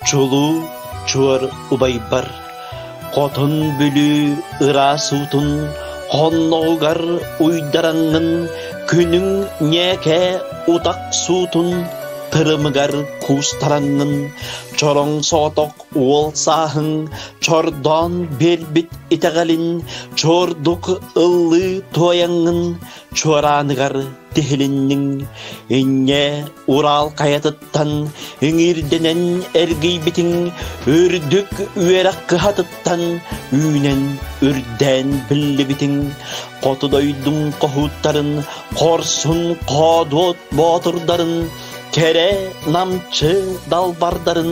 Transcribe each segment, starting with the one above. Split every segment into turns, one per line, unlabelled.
Чулуу чуор убайбар хотон Бүлүү ыраас уутун хонноҕугар уйдараҥҥын Күнүҥ ньээкэ утах суутун тырымыгар куустараҥҥын Чороҥ соҕотох уол сааһыҥ чордоон биэрбит итэҕэлин Чуордук ыллыы туойаҥҥын чуорааныгар тиһилинниҥ инньэ Урал хайатыттан иҥиирдэнэн эргийбитиҥ үрдүк үөрэх кыһатыттан үүнэн үрдээн биллибитиҥ хоту дойдуҥ хоһууттарын хорсун хоодуот боотурдарын кэрэ намчы далбардарын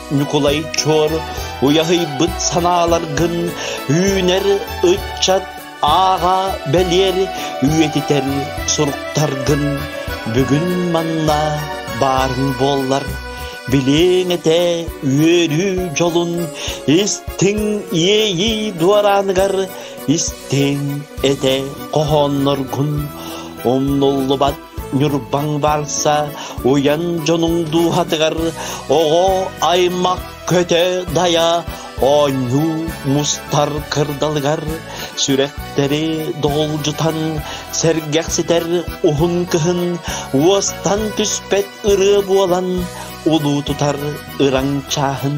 Ньукулай Чуор уйаһыйбыт санааларгын үүнэр ыччат ааҕа бэлиэр үйэтитэр суруктаргын бүгүн манна баарын буоллар билиэҥ этэ үөрүү дьолун истиҥ иэйии дуорааныгар истиҥ этэ хоһоонноргун умнуллубат Ньурбаҥ барса уйан дьонуҥ дууһатыгар оҕо аймах көтө-дайа оонньуу мустар кырдалыгар сүрэхтэри доҕулдьутан сэргэхситэр уһун кыһын уостан түспэт ырыа буолан улуутутар ыраҥ чааһын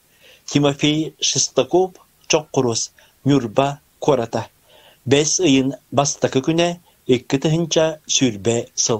Тимофей Шестаков Чоккуруос Ньурба куората бэс ыйын бастакы күнэ икки тыһыынча сүүрбэ сыл